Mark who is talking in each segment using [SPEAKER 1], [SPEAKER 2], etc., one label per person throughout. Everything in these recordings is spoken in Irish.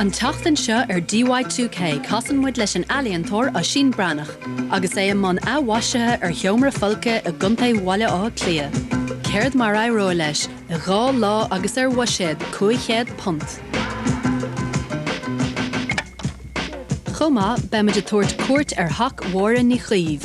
[SPEAKER 1] An tseachtain seo ar DIY2K casann muid leis an ealaíontóir Oisín Breathnach agus é i mbun athmhaisithe ar sheomra folctha i gContae Bhaile Átha Cliath. Céard mar a éireoidh leis i dhá lá agus ar bhuiséad £500? Chomh maith, beimid ag tabhairt cuairt ar theach Mháire Ní Chaoimh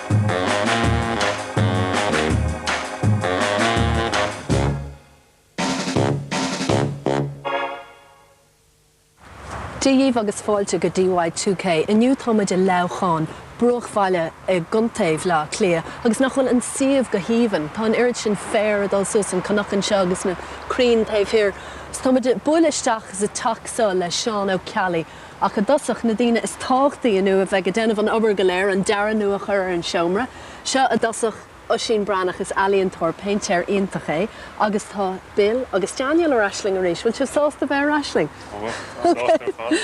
[SPEAKER 1] Daoibh agus fáilte go DIY2K. Inniu táimid i Leamhcán, bruachbhaile i gContae Bhleá Cliath agus nach bhfuil an suíomh go haoibhinn. Tá an oiread sin féir ag dul suas an cnoc anseo agus na crainn taobh thiar. Táimid ag bualadh isteach sa teach seo le Seán Ó Ceallaigh. Ach i dtosach, na daoine is tábhachtaí inniu a bheidh ag déanamh an obair go léir, an dearadh nua a chur ar an seomra seo i dtosach, Oisín Breathnach, is ealaíontóir, péintéir iontach é agus tá Bill agus Daniel ar ais linn arís, bhfuil sibh sásta bheith ar ais linn? Tá muid, sásta ar fad.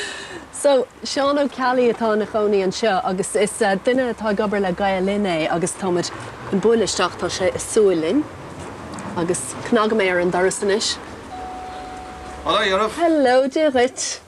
[SPEAKER 1] So, Seán Ó Ceallaigh atá ina chónaí anseo agus is duine atá ag obair le Gael Linn é agus tá muid chun bualadh isteach, tá sé ag súil linn agus cnagfaidh mé ar an doras anois. Hello, Ioraf. Hello, Dia dhuit.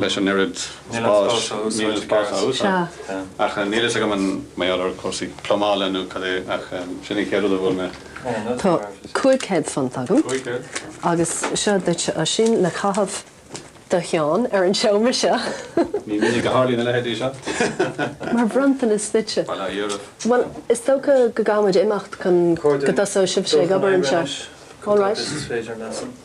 [SPEAKER 1] leis an oiread spáis, níl an spás á úsáid, ach níl a fhios agam an mbeidh orthu cúrsaí plumála nó cad é ach sin an chéad rud a bhuail mé. Tá cúig chéad punt agam agus seo duit Oisín le caitheamh do Sheán ar an seomra seo. Ní minic a tharlaíonn a leithéidí seo. Mar bhronntanas duitse. Bail á iarraidh. Bhuel, is dócha go gcaithfimid imeacht chun go dtosóidh sibhse ag obair anseo. All right.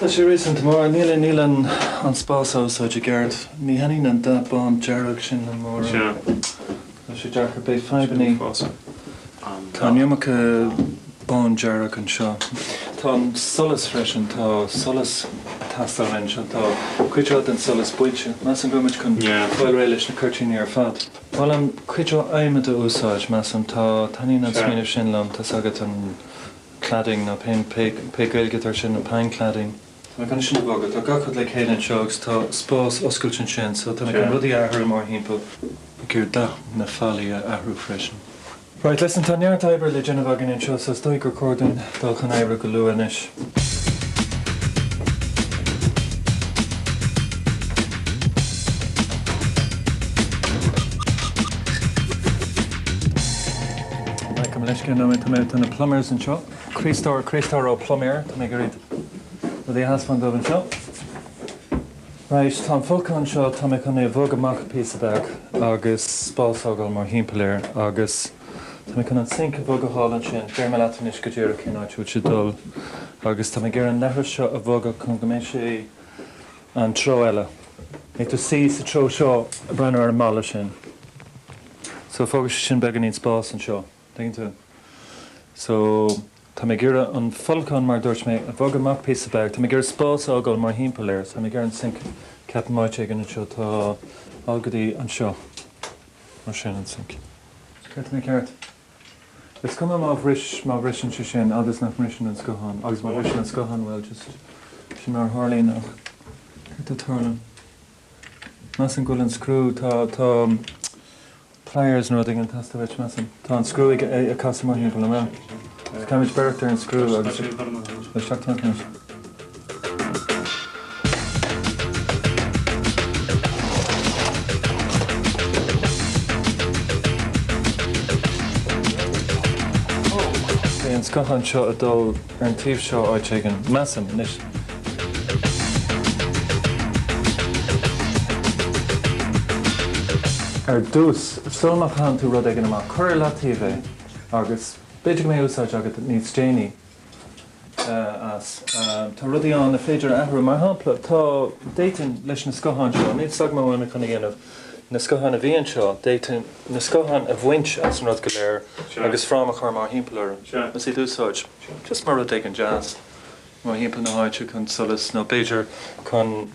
[SPEAKER 1] Tá sé réasúnta mór. Níl an spás á úsáid i gceart. Ní thaitníonn an dath bán dearg sin liom mórán. Tá sé deacair. Beidh fadhbanna. Tá an iomarca bán dearg anseo. Tá an solas freisin. Tá solas ag teastáil anseo. Tá cuid mhaith den solas bainte. Measaim go bhfuil muid chun fáil réidh leis na cuirtíní ar fad. Molaim cuid mhaith adhmaid a úsáid, measaim. Tá. Taitníonn an smaoineamh sin liom. Tá's agat an. cladding nó pé Gaeilge atá ar sin nó pine cladding. Tá mé chun é seo a bhogadh. Tá gach rud le chéile anseo agus tá spás oscailte ansin so tá mé chun rudaí a athrú mórthimpeall. Ba chóir dath na fallaí a athrú freisin. Right, listen, tá neart oibre le déanamh againn anseo so is dóigh gur chóir dúinn dul chun oibre go luath anois. Glacaim leis, cé nóiméad tá mé, tá na plumbers anseo. Críostóir, Críostóir Ó Pluiméir, tá mé ag iarraidh rudaí a thaispeáint dóibh anseo. Right, tá an folcadh anseo, tá mé chun é a bhogadh amach píosa beag agus spás a fhágáil mórthimpeall air agus tá mé chun an sink a bhogadh thall ansin, déarfaidh mé leat anois go díreach cén áit a bhfuil sé ag dul agus tá mé ag iarraidh an leithreas seo a bhogadh chun go mbeidh sé, an treo eile. Agus tá sé sa treo seo, breathnaigh ar an mballa sin. So, fágfaidh sé sin beagáinín spás anseo, an dtuigeann tú? So, tá mé ag iarraidh an folcadán, mar a dúirt mé, a bhogadh amach píosa beag. Tá mé ag iarraidh spás a fhágáil mórthimpeall air. So, tá mé ag iarraidh an sinc ceapaim áit éigin anseo. Tá, fhág go dtí anseo. Mar sin, an sinc. ceart. Is cuma má bhris, má bhriseann sé sin fad is nach mbriseann an scáthán agus má bhriseann an scáthán, bhuel, just, sin mar a tharlaíonn ach céard a tharla? Measaim go bhfuil an scriú, tá, tá pliers nó rud éigin ag teastáil uait, measaim. Tá an scriú ag, ag casadh mórthimpeall, an bhfuil? Caithfimid breith ar an scriú agus, isteach, isteach leis. Beidh an scáthán seo ag dul ar an taobh seo áit éigin, measaim, anois. Ar dtús, sula gcaitheann tú rud éigin amach, cuir ar leataobh é agus b'fhéidir go mbeidh úsáid agat níos déanaí. as. Tá rudaí ann ar féidir a athrú. Mar shampla, tá, d'fhéadfainn, leis na scátháin seo, níl fhios agam an bhfuil mé chun a dhéanamh, na scátháin a bhí anseo, d'fhéadfainn na scátháin a bhaint as an rud go léir agus fráma a chur mórthimpeall orthu is iad a úsáid just mar rud éigin deas mórthimpeall na háite chun solas nó b'fhéidir chun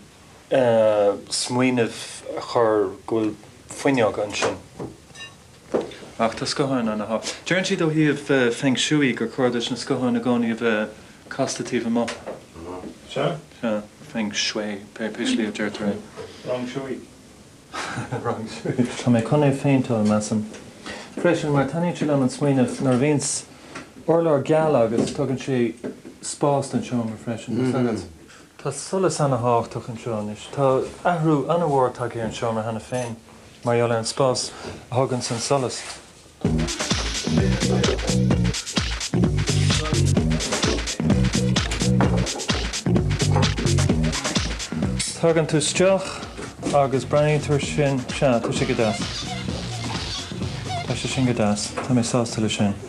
[SPEAKER 1] smaoineamh a chur go bhfuil fuinneog ansin. Ach tá scátháin ann, áfach. Deireann siad ó thaobh feng shui gur cóir duit na scátháin i gcónaí a bheith casta taobh amuigh. Sea. Sea. Feng shui, pé slí a deirtear é. Feng shui. Feng shui. Tá mé chun é a phéinteáil, measaim. Freisin, mar taitníonn sé liom an smaoineamh nuair a bhíonns urlár geal agat, tugann sé spás don seomra freisin, tá 'fhios agat. Tá solas ana-thábhachtach anseo anois. Tá athrú an-mhór tagtha ar an seomra cheana féin. mar gheall ar an spás a thuganns an solas. Tagann tú isteach agus breathnaíonn tú ar sin. Sea, tá sé go deas. Tá sé sin go deas. Tá mé sásta leis sin.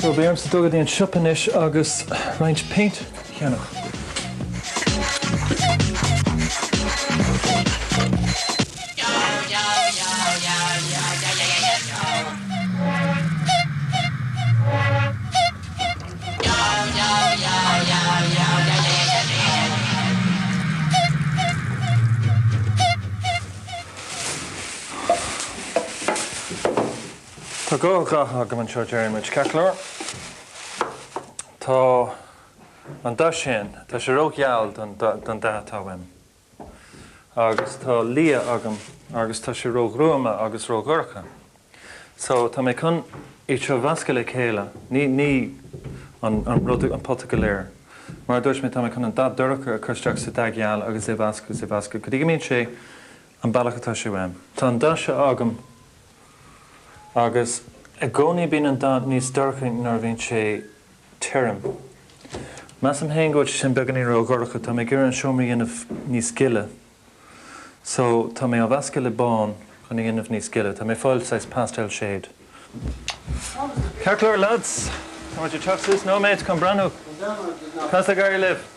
[SPEAKER 1] Bhuel, beidh ormsa dul go dtí an siopa anois agus roinnt paint cheannach. Tá dhá dhath agam anseo, déarfaimid, ceart go leor. Tá an dath sin, tá sé ró-gheal don dath atá uaim, agus tá liath agam agus tá sé ró-ghruama agus ró-dhorcha. So, tá mé chun iad seo a mheascadh le chéile, ní an rud, an pota go léir. Mar a dúirt mé, tá mé chun an dath dorcha a chur isteach sa dath geal agus é a mheascadh is a mheascadh go dtí go mbíonn sé an bealach atá sé uaim. Tá an dá dhath seo agam Agus i gcónaí bíonn an dath níos dorchaí nuair a bhíonn sé tirim. Measaim féin go bhfuil sé sin beagáinín ró dhorcha. Tá mé ag iarraidh an seomra a dhéanamh níos gile. So, tá mé á mheascadh le bán chun a dhéanamh níos gile. Tá mé ag fáil saghas pastel shade. Ceart go leor leaids! Tá muid ag teacht suas nóiméad chun breathnú cad tá ag éirí libh!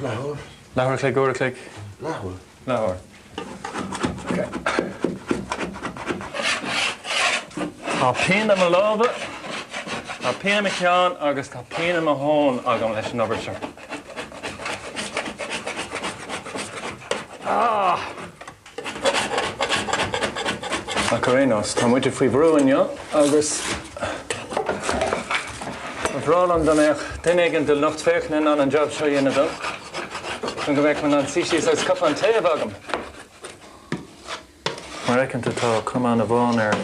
[SPEAKER 1] Leathuair. Leathuair a chloig, uair a chloig? Leathuair. Leathuair. Tá pian i mo lámha, tá pian i mo cheann agus tá pian i mo thóin agam leis an obair seo. Ah! Ach ar aon nós, tá muide faoi bhrú inniu agus ba bhreá liom dá mbeadh duine éigin de lucht féachana in ann an jab seo a dhéanamh dom chun go mbeadh mé in ann suí síos agus cupán tae a bheith agam. Mar aiceanta tá cóta amháin air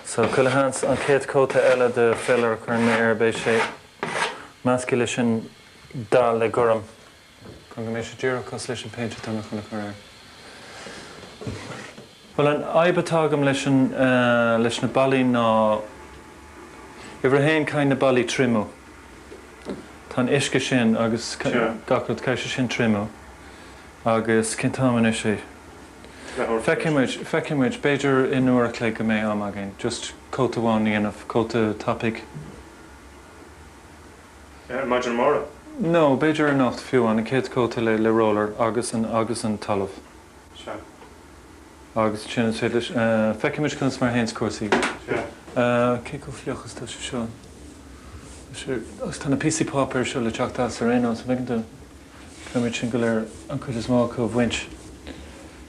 [SPEAKER 1] so chuile sheans an chéad cóta eile de feilear a chuireann mé air beidh sé measctha leis an dath, le gorm. Chun go mbeidh sé díreach cosúil leis an péint atá mé chun a chur air. Bhuel an fhadhb atá agam leis an, leis na ballaí ná, uimhir a haon caithfidh na ballaí triomú. Tá an uisce sin agus gach rud, caithfidh sé sin triomú agus cén t-am anois é? Feicfidh muid, feicfidh muid, b'fhéidir in uair a chloig go mbeidh am againn just cóta amháin a dhéanamh, cóta tapaidh. maidin amárach. No, b'fhéidir anocht fiú, an chéad chóta le le roller agus an agus an talamh. Sea. Agus ansin is féidir leis eh, feicfimid conas mar a théanns cúrsaí. Sea. Eh, cé chomh fliuch is tá sé seo? Tá sé, agus tá na píosaí páipéir seo le teacht as ar aon nós, an bhfeiceann tú? Caithfimid sin go léir, an cuid is mó acu a bhaint.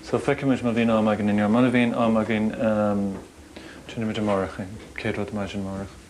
[SPEAKER 1] So feicfimid má bhíonn am againn inniu. Mura bhíonn am againn, ehm, déanfaimid amárach é, an chéad rud maidin amárach.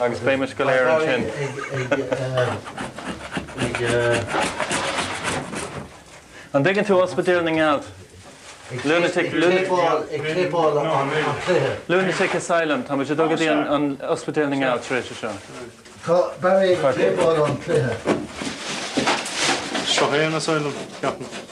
[SPEAKER 1] Agus beidh muid go léir ansin. An dtuigeann tú Ospidéal na nGealt? Lunatic, Lunatic Asylum, tá muid ag dul go dtí an Ospidéal na nGealt tar éis seo. Tá Barry ag péinteáil an cluiche. Seo é an Asylum, ceapaim.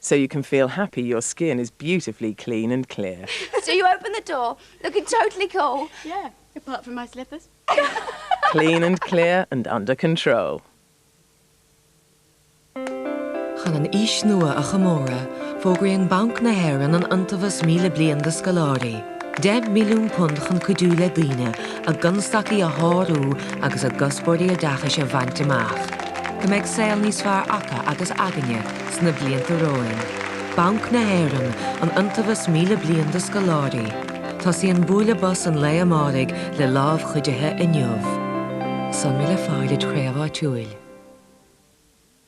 [SPEAKER 1] so you can feel happy your skin is beautifully clean and clear. So you open the door, looking totally cool. Yeah, apart from my slippers. Clean and clear and under control. Chun an fhís nua a chomóradh, fógraíonn Banc na hÉireann an Iontabhas Míle Bliain do Scoláirí. £10 milliún chun cuidiú le daoine a gconstaicí a shárú agus a gcuspóirí oideachais a bhaint amach, go mbeidh saol níos fearr acu agus againne sna blianta romhainn. Banc na hÉireann, An Iontabhas 1000 Bliain do Scoláirí, Tosaíonn bualadh bos an lae amáraigh le lámh chuidithe inniu. Sonraí le fáil id' chraobh áitiúil.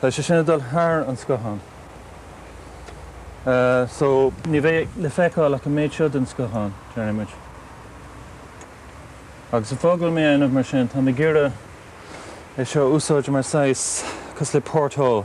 [SPEAKER 1] Tá sé sin ag dul thar an scáthán so ní bheidh le feiceáil ach an méid seo den scáthán, déarfaidh muid. Agus an fáth go bhfuil mé á dhéanamh mar sin, táim ag iarraidh é seo a úsáid mar saghas, cosúil le porthole,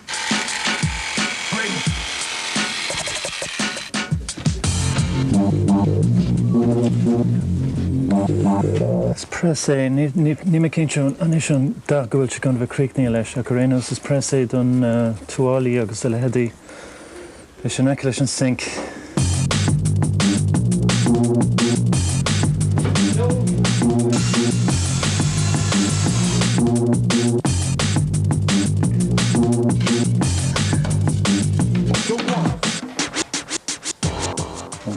[SPEAKER 1] Is press é, níl mé cinnte anois an dath go bhfuil sé chun a bheith críochnaithe leis, ach ar aon nós is press é do na tuáillí agus a leithéidí. Leis in aice leis an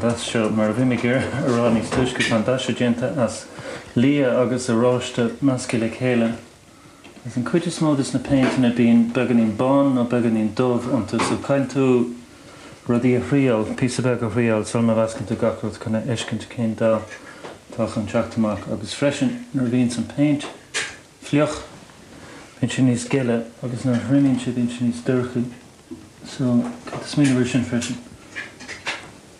[SPEAKER 1] dath seo mar a bhí muid á rá níos túisce tá an dath seo déanta as liath agus oráiste measctha le chéile. Is an cuid is mó de na péinteanna bíonn beagáinín bán nó beagáinín dubh iontu so caithfidh tú rudaí a thriáil, píosa beag a thriáil sula meascann tú gach rud chun a fheiscint cén dath atá chun teacht amach agus freisin nuair a bhíonns an péint fliuch bíonn sé níos gile agus nuair a thriomaíonn sé bíonn sé níos dorchaí so caithfidh tú smaoineamh ar sin freisin.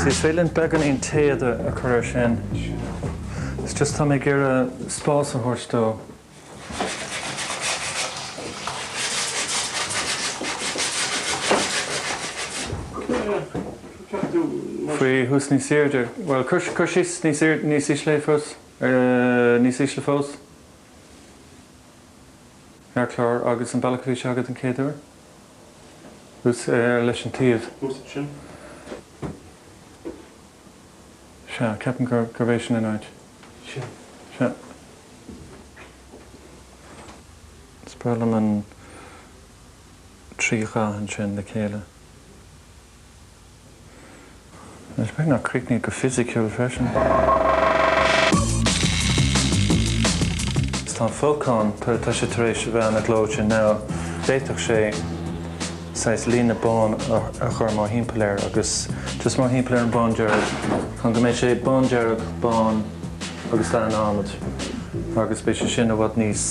[SPEAKER 1] Sea, is féidir linn beagán den téad a chur air sin. It's just tá mé ag iarraidh spás a thabhairt dó. Faoi thuas níos airde. Bhuel, cur, cur síos níos airde, níos ísle fós, níos ísle fós. ar chlár agus an bealach a bhí sé agat an chéad uair thuas ar leis, an taobh thuas sin? Sea, ceapaim gur, gurb é sin an áit. Sea. Sea. Is breá liom na trí dhath ansin le chéile. Nach bhfuil sé crochta go fisiciúil freisin. Tá an fócas ann, tá sé tar éis a bheith an-ghlóite now. D'fhéadfadh sé saghas líne bán a chur mórthimpeall air agus just mórthimpeall ar an bándearg chun go mbeidh sé bándearg, bán agus dath an adhmaid agus beidh sé sin i bhfad níos,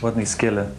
[SPEAKER 1] bhfad níos gile.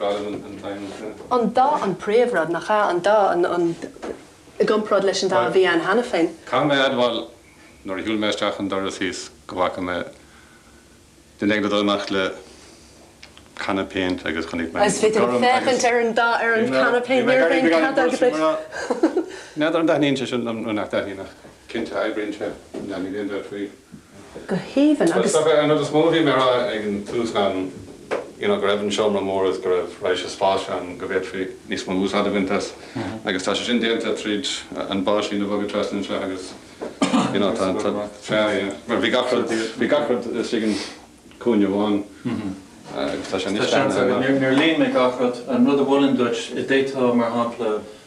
[SPEAKER 1] An dath an príomhrud, nach ea? An dath ann i gcomparáid leis an dath a bhí ann cheana féin? Caithfidh mé a admháil, nuair a shiúil mé isteach an doras thíos, go bhfaca mé duine éigin ag dul amach le canna péint agus chonaic mé an gorm agus. Is féidir liom féachaint ar an dath, ar an canna péint, níorbh aon chead agat é. N'fheadar an dtaitníonn sé sin liom nó nach dtaitníonn ach. cinnte oibríonn sé. Leanfaidh linn bheith faoi go haoibhinn. Agus. Agus an rud is mó a bhí mé a rá ag an tús ná an you know go raibh an seomra mór agus go raibh raidhse spáis ann go bhféadfaí níos mó úsáid a bhaint as agus tá sé sin déanta tríd an báisín a bhogadh trasna anseo agus you know tá tá sea yeah mar bhí gach rud bhí gach rud istigh in cúinne amháin agus tá sé anois deartha amach. Níor líon mé gach rud. An rud a mholfainn duit i dtaobh mar shampla,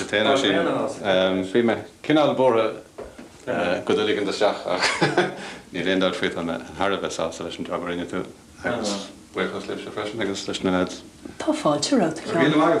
[SPEAKER 1] Seachas sin, bhí mé cineál buartha go dtí go ndeachaigh an dath isteach ach níl aon dabht faoi, tá mé thar a bheith sásta leis an jab a rinne tú agus buíochas libhse freisin agus leis na leaids. Tá fáilte romhat, a Sheáin.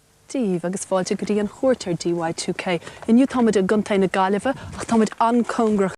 [SPEAKER 1] daoibh agus fáilte go dtí an chuairt ar DY2K. Inniu táimid i gContae na Gaillimhe ach táimid an-chóngarach.